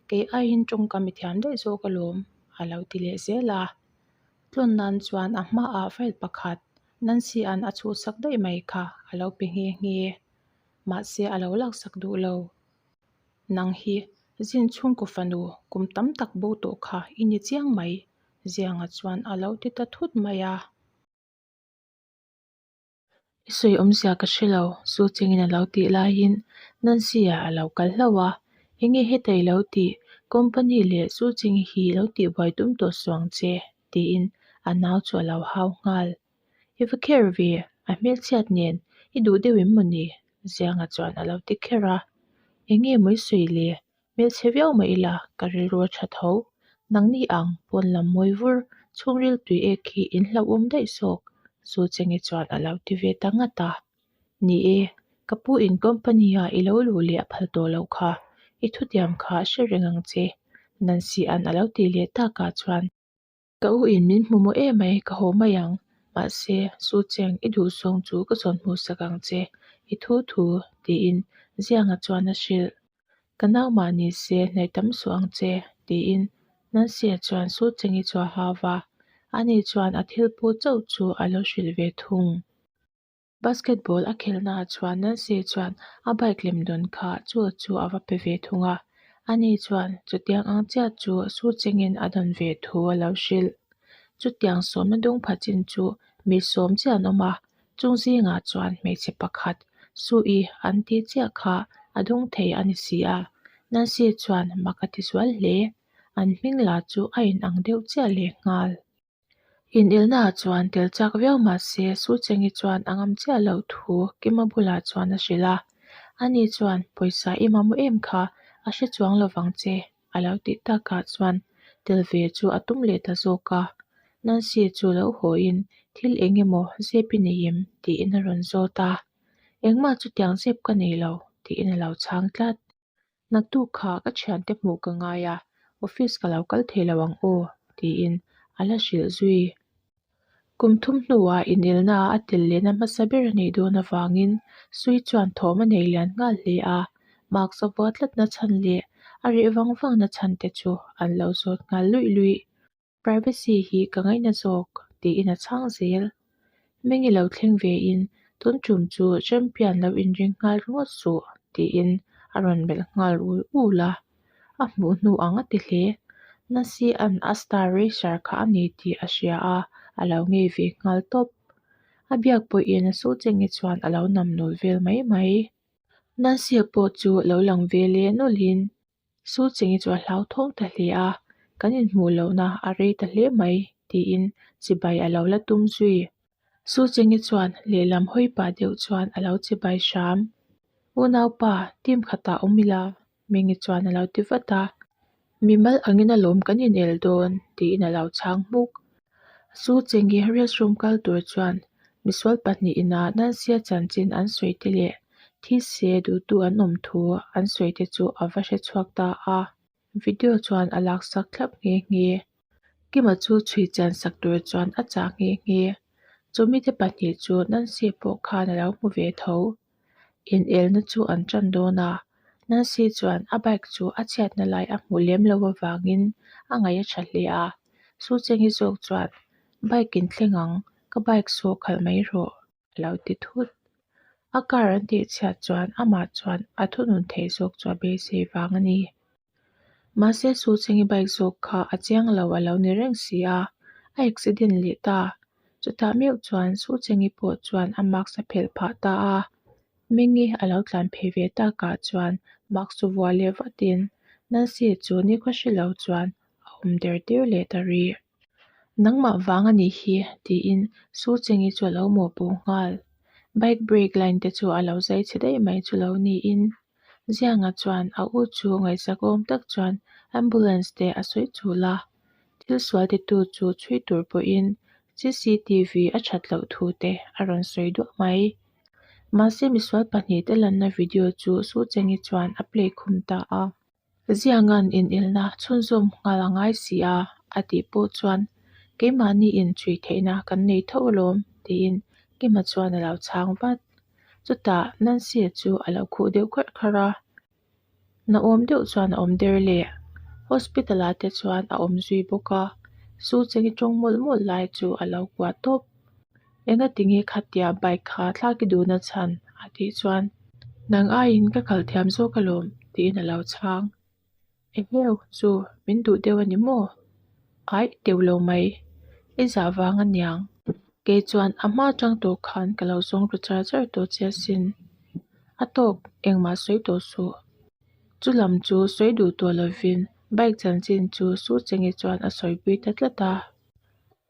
kei aiin tawngka mi thiam daih zawh ka lawm, a lo ti leh zel a. Tlawn nan chuan a hmaah file pakhat Nancy-a'n a chhut sak daih mai kha a lo pe nghe nghe, mahse a lo lak sak duh lo. Nang hi zin chhungkaw fanu kum tam tak bo tawh kha i ni chiang mai. Zianga chuan a lo ti ta thut mai a. I sawi awmzia ka hre lo, Su Chengin a lo tih laiin Nancy-a a lo kal hlauh a. Enge heta i lo tih? Company leh Su Cheng hi i lo tihbuai tum tawh suang che, tiin a nau chu a lo hau nghal. I va kher ve a hmelchhiat nen i duh deuh em mawni? Zianga chuan a lo ti kher a, Enge mawi sawi le, hmelchhe viau mah ila ka rilru tha tho. Nangni ang pawn lam mawi vur, chhungril tui ek hi in hlauhawm daih sawk. Su Chenge chuan a lo ti ve ta ngat a, Ni e, ka pu in company-a i lo luh leh a phal tawh loh kha, i thutiam kha a hre reng ang che. Nancy-a'n a lo ti leh takah chuan. Ka u in min hmu maw emai ka haw mai ang, mahse Su Cheng i duhsawng chu ka zawn hmuhsak ang che, i thu thu tiin Zianga chuan a hrilh. Ka nau mah ni se hnaih tam suh ang che tiin Nancy-a chuan Su Cheng i chuahau va, ani chuan a thil pu chauh chu a lo hrilh ve thung. Basketball a khelhnaah chuan Nancy chuan a bike lem dawn kha chu chu a va pe ve thung a, a ni chuan chutiang ang chiah chu Su Chengin a dawn ve thu a lo hrilh. Chutiang sawmna dawng pha chin chu mi sawm chiah an awm a, chung zingah chuan hmeichhe pakhat, Su i an ti chiah kha a dawng thei a ni si a, Nancy chuan maka tizual hle, an hming la chu a inang deuh chiah lehnghal. Inelnaah chuan tel chak viau mahse Suchengi chuan a ngam chiah loh thu Kima bulah chuan a hrilh a, ani chuan pawisa i mamawh em kha a hre chuang lo vang che a lo tih takah chuan tel ve chu a tum leh ta zawk a, Nancy chu lo hawiin thil eng emaw zep i nei em? tiin a rawn zawt a, engmah chutiang zep ka nei lo tiin a lo chhang tlat. Naktuk kha ka thiante hmuh ka ngai a, office ka lo kal theilo ang aw, tiin a la hrilh zui. Kum thum hnuah inelna a tel lehna hmasa ber a nih dawn avangin Sui chuan thawm a nei lian nghal hle a, marks a vua tlatna chhan leh a reh vang vangna chhante chu an lo zawt nghal luih luih. Privacy hi ka ngaihna zawk, tiin a chhang zel. Meng i lo thleng ve in, tun tum chu champion lo inring nghal ringawt suh, tiin a rawn melh nghal ul ul a. A hmuh hnu ang a ti hle. Nasia'n a star racer kha a ni tih a hria a, a lo ngei ve nghal tawp. A biak pawh in a Sucheng i chuan a lo nam nawl vel mai mai. Nasia pawh chu a lo lang ve leh nawlhin. Su Chingi chu a hlauthawng ta hle a, kan inhmuh lohna a rei ta hle mai, tiin chibai a lo la tum zui. Su Chingi chuan lehlam hawi pah deuh chuan a lo chibai hram. U naupa, team khatah awm ila, Mingi chuan a lo ti vat a. Mimal angin a lawm kan inel dawn, tiin a lo chhang hmuk. Su Chengge riahrûm kal tur chuan misual pahnih inah nansia chanchin an sawite leh thise duhtu an awm thu an sawite chu a va hre chhuak ta a. Video chuan a lak sak thlap nghe nghe. Kima chu chhui chan sak tur chuan a chah nghe nghe. Chu mite pahnih chu nansia pawh khan a lo hmu ve tho. Inelna chu an tan dawn a, Nancy chuan a bike chu a chhiatna lai a hmuh lem lo avangin a ngaih a tha hle a. Su Cheng hi zawk chuan, Bike in thleng ang, ka bike sawh khalh mai rawh. A lo ti thut. A car an tihchhiat chuan amah chuan a thunun theih zawk chu a beisei vang a ni. Mahse Su Cheng'i bike zawk kha a chiang lo a lo ni reng si a, a accident leh ta. Chutah meuh chuan Su Cheng'i pawh chuan a mask a phelh phah ta a, Mengi a lo tlan phei ve takah chuan mask chu vuah leh vatin, Nancy chu ni ka hre lo chuan a awm der tir leh ta rih. Nangmah vang a nih hi, tiin Su Chengi chu a lo mawhpawh nghal. Bike brake line te chu a lo zai chhe daih mai chu lo niin, Zianga chuan a u chu ngaihsak awm tak chuan ambulance te a sawi chul a. Thil sual te tu chu chhui tur pawhin CCTV a that loh thu te a rawn sawi duah mai. Mahse misual pahnih te lanna video chu Su Chengi chuan a play khum ta a. Zianga'n inilna chhunzawm nghal a ngai si a, a tih pawh chuan keimahni in ṭhui theihna kan nei tho alawm, tiin Kima chuan a lo chhang vat. Chutah Nancy-a chu a lo khuh deuh kharh kharh a, Na awm deuh chuan a awm der le. Hospital-ah te chuan a awm zui bawk a, Sucheng-i ṭawng mawlh mawlh lai chu a lo kuah tawp. Enga ti nge kha tia bike kha thlak i dun a chhan? a tih chuan. Nang aiin ka kal thiam zawk alawm, tiin a lo chhang. Eheu, chu min duh deuh a ni maw? Aih, deuh lo mai, i zah vang a niang. Kei chuan a hma chang tawh khan ka lo zawng ru char char tawh che asin. A tawk, engmah sawi tawh suh. Chu lam chu sawi duh tawh lovin bike chanchin chu su che nge chuan a sawi pui ta tlat a.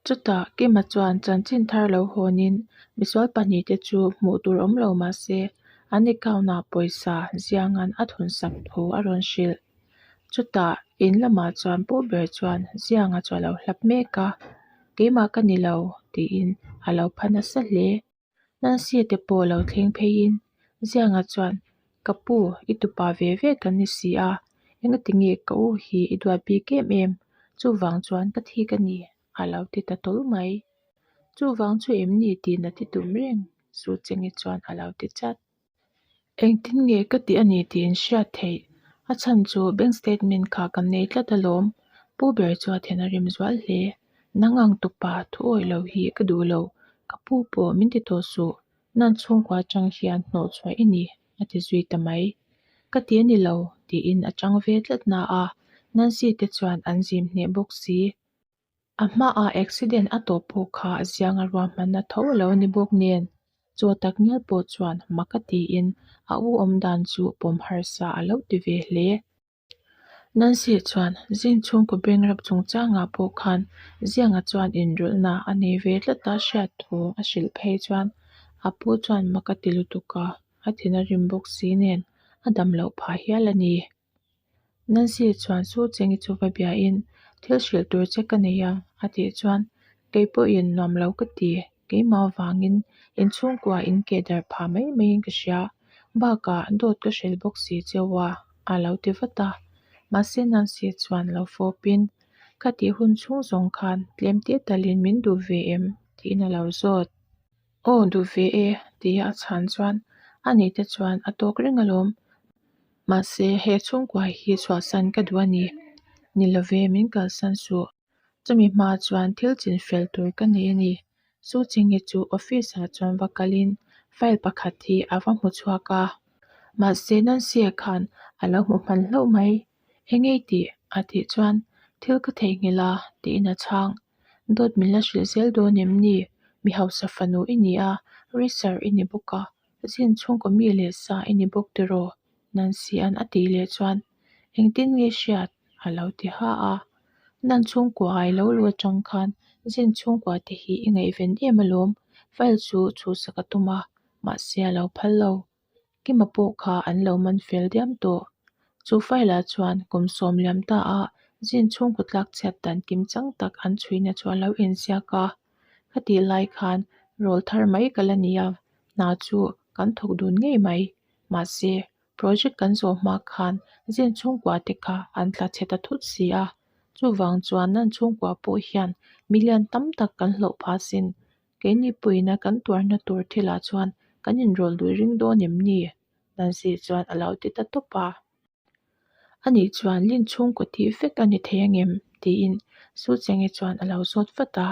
Chutah Kima chuan chanchin thar lo hawnin misual pahnih te chu hmuh tur awm lo mah se, an account ah pawisa zianga'n a thun sak tho a rawn hrilh. Chutah in lamah chuan pawh ber chuan zianga chuah lo hlap mek a, keimah ka ni lo tiin a lo phan nasa hle. Nan sia te pawh lo thleng phei in Zianga chuan, Ka pu, i tupa ve ve kan ni si a, eng a ti nge ka u hi i duat bik em em, chuvang chuan ka thi ka ni a lo ti ta tawlh mai. Chuvang chu em ni tihna ti tum reng Sucheng-i chuan a lo ti chat. Engtin nge ka tih a ni tih in hriat theih a chhan chu bank statement kha kan nei tlat alawm. Pu Ber chu a then a rem zual hle. Nang ang tupa thu awih loh hi ka duh lo. Ka pu pawh min ti tawh suh. Nan chhungkua chang hian hnawh chhuah i ni, a ti zui ta mai. Ka ti a ni lo, tiin a chang ve tlat na a, Nancy te chuan an zim hneh bawk si. A hmaah accident a tawh pawh kha ziang a ruahmanna tho lo ni bawk nen chaw tak mial pawh chuan mak a tiin a u awm dan chu pawm harsa a lo ti ve hle. Nancy chuan zing chhungkaw bangrap chung changah pawh khan Zianga chuan inrawlhna a nei ve tlat a hriat thu a hrilh phei chuan a pu chuan mak a ti lutuk a, a thin a rim bawk si nen a dam loh phah hial a ni. Nan zir chuan chu cheng i chu va bia in thil hrilh tur che ka nei a, a tih chuan kei pawh in nuam lo ka ti, keimah vang in in chhungkua in ke dar pha mai mai in ka hria, bakah dawt ka hrel bawk si che a, a lo ti vat a, mahse nan zir chuan lo fawp in ka tih hun chhung zawng khan tlem te tal in min duh ve em? tiin a lo zawt. Aw duh ve e, ti a a chhan chuan a ni te chuan a tawk reng alawm. Mahse he chhungkuai hi chhuahsan ka duh a ni. Ni lo ve, min kalsan suh. Chumi hma chuan thil chinfel tur ka nei a ni. Su Chingi chu office ah chuan va kalin file pakhat hi a va hmu chhuak a. Mahse Nancy-a khan a lo hmu hman hlauh mai. Engei tih? a tih chuan thil ka theihnghilh a tiin a chhang. Dawt min la hrilh zel dawn em ni? Mi hausa fanu i ni a, Racer i ni bawk a, zin chhungkaw mi leh sa i ni bawk tiraw? Nancy-a'n a tih leh chuan engtin nge hriat? a lo ti ha a. Nan chhungkaw ai lo lu atang khan zin chhungkaw te hi i ngaihven em alawm, file chu chhuhsak a tum a, mahse a lo phal lo. Kima pawh kha an lo man fel diam tawh. Chu file ah chuan kum sawm liam ta a zin chhung kutlak chhiat dan kim chang tak an chhuina chu a lo inziak a. Ka tih lai khan rawl thar mai ka la ni a, hna chu kan thawk dun ngei mai. Mahse, project kan zawh hma khan zin chhungkua te kha an tla chhe ta thut si a. Chuvang chuan nan chhungkua pawh hian million tam tak kan hlawh phah sin Kei nipuiin a kan tuarna tur thilah chuan kan inrawl duh ring dawn em ni? Nancy chuan a lo ti ta tawp a. A nih chuan Lin chhungkaw tih vek a ni thei angem? tiin Su Chenge chuan a lo zawt vat a.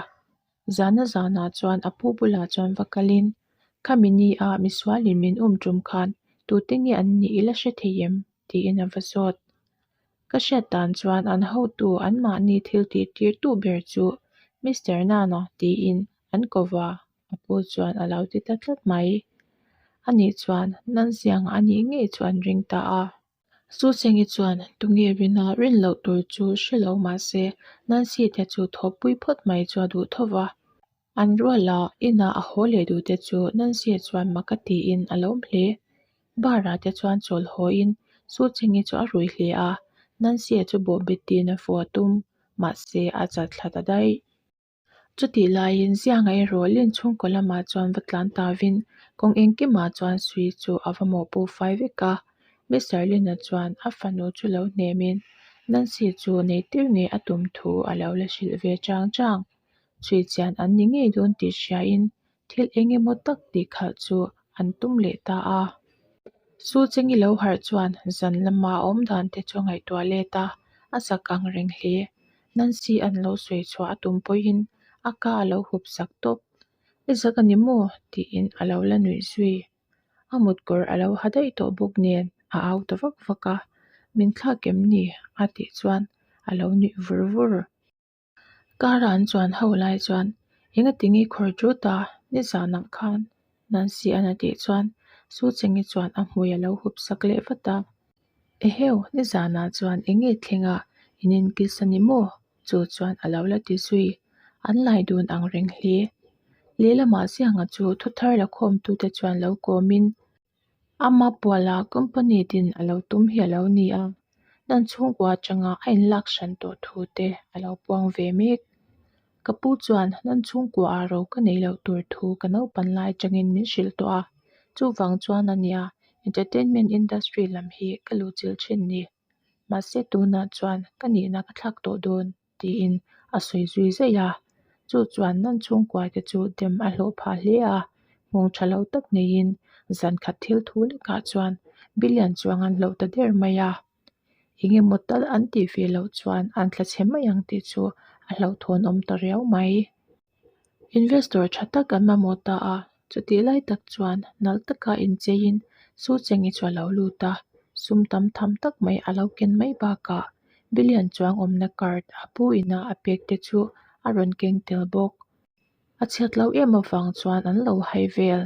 Zana zanah chuan a pu bulah chuan va kalin, Khami ni a, misualin min awm tum khan tute nge an nih ila hre thei em? tiin a va zawt. Ka hriat dan chuan an hotu anmahni thiltih tirtu ber chu Mister Nana tiin an ko va, a pu chuan a lo ti ta tlat mai. A nih chuan nan ziangah a nih ngei chu an ring ta a. Su Chengyi chuan tunge rina rin loh tur chu hre lo mahse Nancy te chu thawhpui phawt mai chu a duh tho va. An ruala inah a haw leh duhte chu Nancy-a chuan maka tiin a lawm hle. Bar-ah te chuan chawl hawiin Suchengi chu a ruih hle a, Nancy-a chu bawhbet tiin a fuh a tum, mahse a chal thla ta daih. Chutih laiin Zianga erawh Lin chhungkaw lamah chuan va tlan ta vin, kawng engkimah chuan sui chu a va mawh pu fai vek a. Mister Lin-a chuan a fanu chu lo hnemin Nancy chu nei tir ngei a tum thu a lo la hrilh ve chang chang. chhuihchian an ni ngei dawn tih hriain thil eng emaw tak tih kha chu an tum leh ta a. Su Cheng'i lo harh chuan zan lama a awm dan te chu a ngaihtuah let a, a sak ang reng hle. Nancy a lo sawi chhuah a tum pawiin a ka a lo hup sak tawp. I zak a ni maw? tiin a lo la nuih zui. A mutkawr a lo ha daih tawh bawk nen a au ta vak vak a. Min thlak em ni? a tih chuan a lo nuih vur vur. Kara an chuan ho lai chuan, Enga ti nge khawr chu ta, nizan ang khan nan siah an a tih chuan Su Cheng i chuan a hmui a lo hup sak leh vat a. Eheu, nizan ah chuan enge thleng ah in inkil sa ni maw? Chu chuan a lo la ti zui. An lai dun ang reng hle. Lehlam ah siang a chu thuthar la khawm tu te chuan lo kawm in, Ama Puala company din a lo tum hi a lo ni a, nan chhungkua atanga a inlak hran tawh thu te a lo puang ve mek. Ka pu chuan nan chhungkua ah ro ka nei loh tur thu ka naupan lai atangin min hrilh tawh a, chuvang chuan a nia entertainment industry lam hi ka luh chilh thin ni. Mahse tunah chuan ka nihna ka thlak tawh dawn. Tiin a sawi zui zai a. Chu chuan nan chhungkuai te chu dem a hlawh phah hle a. Nghawng tha lo tak neiin zan khat thil thu lekah chuan Billiant chuang an hlauh ta der mai a. Eng nge maw tal an tih ve loh chuan an thla chhe mai ang tih chu a hlauhthawn awm ta riau mai. Investor tha tak an mamawh ta a, chutih lai tak chuan nalh taka incheiin Su Cheng-i chu a lo lut a, sum tam tham tak mai a lo ken mai bakah Billion chuang awmna card a pu inah a pek te chu a rawn keng tel bawk. A chhiat loh em avang chuan an lo hai vel,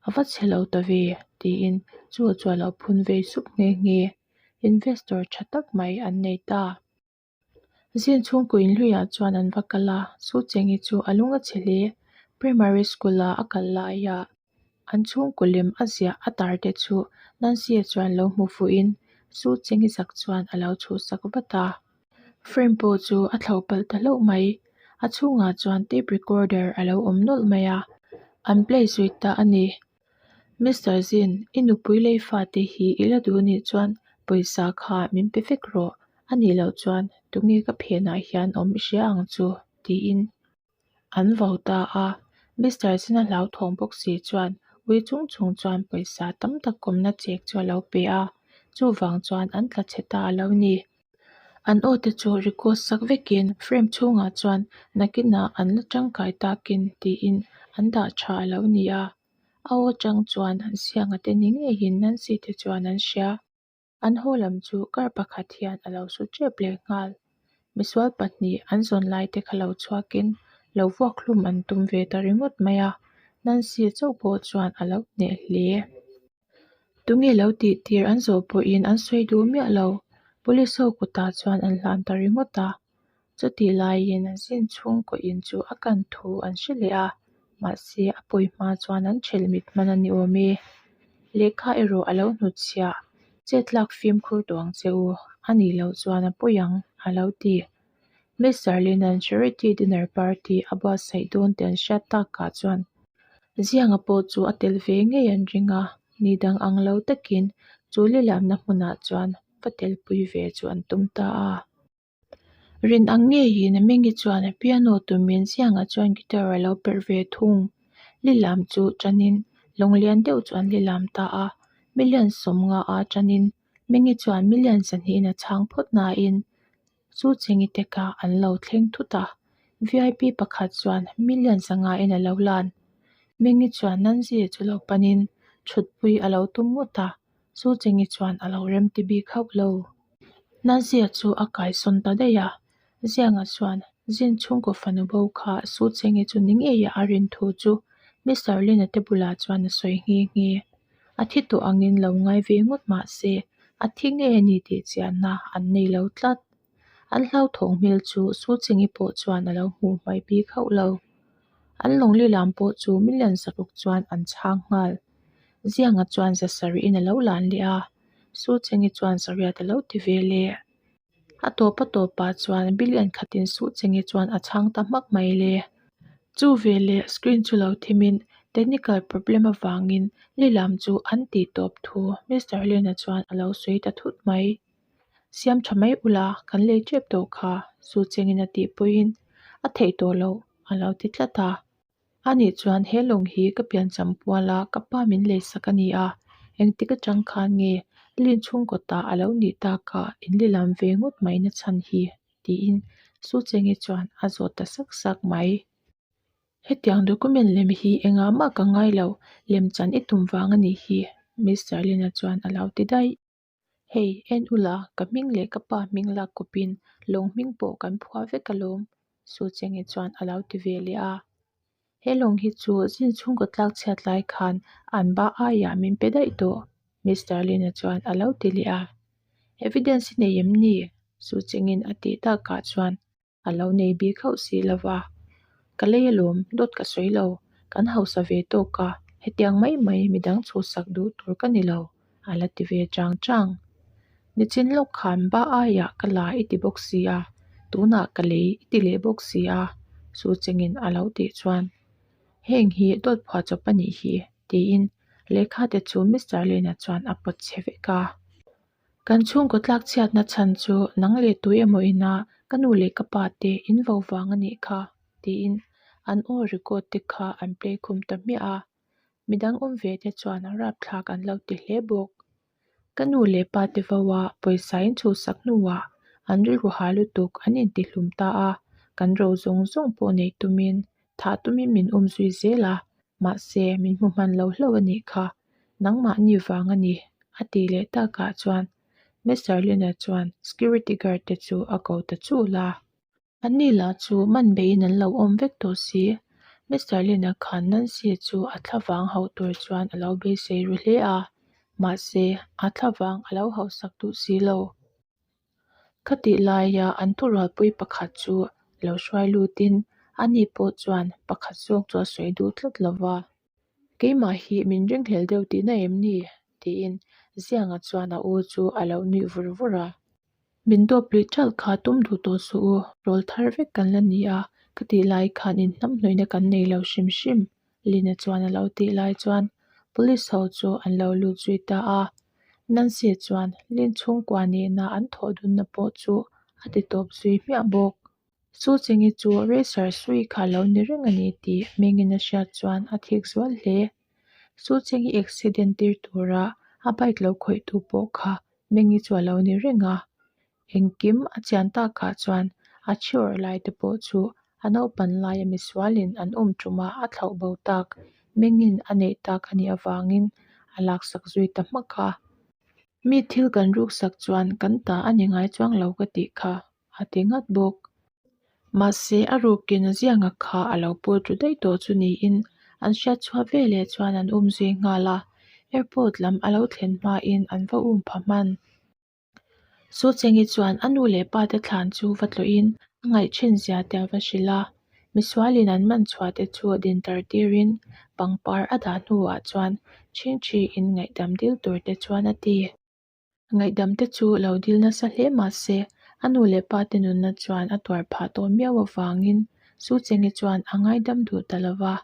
a va chhe lo ta ve, tiin Su chu a lo phun vei sup nghe nghe. Investor tha tak mai an nei ta. Zin chhungkaw inhluiah chuan an va kal a, chu cheng hi chu a lung a chhe hle. Primary school ah a kal laiah an chhungkaw lem a ziah a tar te chu Nancy-a chuan lo hmu fuhin chu cheng hi zak chuan a lo chhuhsak vat a. Frame pawh chu a thlo palh ta hlauh mai. A chhungah chuan tape recorder a lo awm nawlh mai a, an play zui ta a ni. Mister Zin, i nupui lei fate hi i la duh anih chuan pawisa kha min pe vek rawh, a nih loh chuan tunge ka phenah hian awm i hria ang chu? tiin an vau ta a. Mister Zin a hlauthawng bawk si chuan Wei Chung Chung chuan pawisa tam tak kawmna chek chu a lo pe a, chuvang chuan an tla chhe ta a lo ni. an aw te chu record sak vekin frame chhungah chuan nakinah an la tangkai takin tiin an dah tha a lo ni a a aw tang chuan an siamna te ni ngei in Nancy te chuan an hria an haw lam chu kar pakhat hian a lo su tep leh nghal misual pahnih an zawn lai te kha lo chhuakin lo vuak hlum an tum ve ta ringawt mai a Nancy chauh pawh chuan a lo hneh hle. Tunge lo tih tir an zawh pawhin an sawi duh miah lo. Police ho kutah chuan an hlan ta ringawt a. Chutih laiin an sin chhung kuahin chu a kan thu an hre leh a. Mahse a pawi hma chuan an ṭhelh mit hman a ni awm e. Lehkha erawh a lo hnutchhiah chetlak fimkhur duang che u. A nih loh chuan a pawi ang a lo ti. Ms Zarlina'n Charity Dinner Party a buatsaih dawn ten hriat takah chuan Zianga pawh chu a tel ve ngei an ring a, ni dang ang lo takin chu lilamna hmunah chuan va telpui ve chu an tum ta a. Rin ang nge hi'n a meng hi chuan piano tumin Zianga chuan guitar a lo perh ve thung. Lilam chu tanin lawng lian deuh chu an lilam ta a, million sawmnga a tanin mengi chuan million sahnihin a chhang phawt nain Chu chi nge te ka an lo thleng thut a, VIP pakhat chuan million sangha in a lo lan. Mengi chuan Nanzia chu lo panin thutpui a lo tum ngawt a, Su Chengi chuan a lo rem ti bik hauh lo. Nanzia chu a kaisawn ta daih a, Zianga chuan zin chhungkaw fanu bo kha Su Chengi chu ni ngei a a rin thu chu Mister Lina te bulah chuan a sawi nghe nghe. A thi tawh angin lo ngai ve ngawt mah se, a thi nge a ni tih chianna an nei lo tlat. An hlauthawng hmel chu Su Chingyi pawh chuan a lo hmuh hmai pi khauh lo. An Lawngli lam pawh chu min lian zat ruk chuan an chhang nghal. Zianga chuan zasarih in a lo lan leh a, Su Chingyi chuan zariat a lo ti ve le. A tawpa tawpah chuan bilian khatin suh che nge chuan a chhang ta hmak mai le. Chu veleh screen chu lo thimin technical problem avangin li lam chu an tih tawp thu Mister Hlena chuan a lo sawi ta thut mai. Siam tha mai ula kan lei tep tawh kha, Suchengin a tihpuiin a theih tawh loh a lo ti tlat a. A nih chuan he lawng hi ka piancham pual a, ka pa min lei sak a ni a, engtik atang khan nge Lin chhungkawtah a lo nih tak a, in li lam ve ngawt mai na chhan hi, tiin Su Cheng hi chuan a zawt ta sak sak mai. Hetiang document lem hi engah mah ka ngailo, lem chan i tum vang a nih hi, Mister Lin-a chuan a lo ti daih. Hei, en ula, ka hming leh ka pa hming lak kupin lawng hming pawh kan phuah vek alawm, Su Chenge chuan a lo ti ve leh a. He lawng hi chu zin chhungkaw tlak chhiat lai khan an ba aiah min pe daih tawh, Mister Lin-a chuan a lo ti leh a. Evidence hi nei em ni? Su Chengin a tih takah chuan a lo nei bik hauh si lo va ka lei alawm dawt ka sawi lo kan hausa ve tawk a hetiang mai mai midang chhut sak duh tur ka ni lo a la ti ve chang chang nichin lawk khan ba aiah ka la i ti bawk si a tunah ka lei i ti leh bawk si a Su Cheng in a lo tih chuan heng hi dawt phua chawp a nih hi tiin lehkha te chu Mister Len a chuan a pawt che vek a. Kan chhungkaw tlak chhiatna chhan chu nang leh tui emaw ina ka nu leh ka pa te in vo vang a nih kha tiin an aw record te kha an play khum ta hmiah a, midang awm ve te chuan rap thlak an lo ti hle bawk. Ka nu leh pa te vaua pawisa in chhuhsak hnuah an rilru ha lutuk an inti hlum ta a, kan ro zawng zawng pawh nei tumin thah tumin min awm zui zel a, Mahse, min hmu hman lo hlauh a nih kha. Nangmah ni vang a ni, a ti leh takah chuan Miss Zarlina chuan security guard te chu a ko ta chul a. A ni lah chu, man beiin an lo awm vek tawh si. Miss Zarlina khan Nancy chu a thla vang hauh tur chuan a lo beisei ru hle a. Mahse, a thla vang a lo hauhsak duh si lo. Ka tih laia an thurualpui pakhat chu lo hruai lutin a ni pawh chuan pakhat zawk chu a sawi duh tlat lo va. Keimah hi min ringhlel deuh tihna em ni? tiin Zianga chuan a u chu a lo nuih vur vur a. Min dawp luih chalh kha tum duh tawh suh u, rawl thar vek kan la ni a, ka tih lai khan inhnamhnawihna kan nei lo hrim hrim. Lina chuan a lo tih lai chuan Police ho chu an lo lut zui ta a. Nancy chuan Lin chhungkua nihna an thawh dunna pawh chu a ti tawp zui hmiah bawk. Su Chingi chu Racer sui kha a lo ni reng a ni tih mengin a hriat chuan a thik zual hle. Su Chingi accident tir tura a bike lo khawihtu pawh kha Mengi chu a lo ni reng a. Engkim a chian takah chuan a chhiawrh lai te pawh chu a naupan laia misualin an awm ṭuma a thlauh bo tak, mengin a neih tak a nih avangin a laksak zui ta hmak a. Mi thil kan ruksak chuan kan tah a ni ngai chuang lo ka tih kha a ti nghat bawk. Mahse, a rukin a zianga kha a lo pawl ṭu daih tawh chu niin an hriat chhuah ve leh chuan an um zui nghal a. Airport lam a lo thlen hmain an va um pha hman. Su Chenghi chuan a nu leh pa te thlan chu va tluin a ngaih thin zia te a va hrilh a. Misualin an man chhuah te chu din tar tirin pangpar a dah hnuah chuan chhing thi in ngaihdam dil tur te chuan a ti. A ngaihdam te chu lo dil nasa hle mahse a nu leh pa te nunna chuan a tuar phah tawh miau avangin Su Chenghi chuan a ngaidam duh ta lovah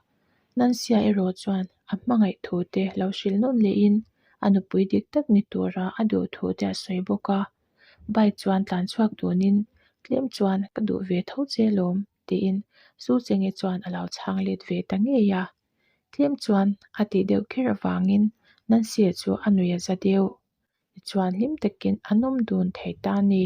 Nan sia erawh chuan a hmangaih thu te lo hrilh nawm lehin a nupui dik tak ni tura a duh thu te a sawi bawk a, bike chuan tlan chhuak tunin tlem chuan ka duh ve tho che lawm tiin Su Chenge chuan a lo chhang let ve ta ngei a. Tlem chuan a tih deuh kher avangin Nansia chu a nui a za deuh. Tichuan hlim takin a nawm dun thei ta ni.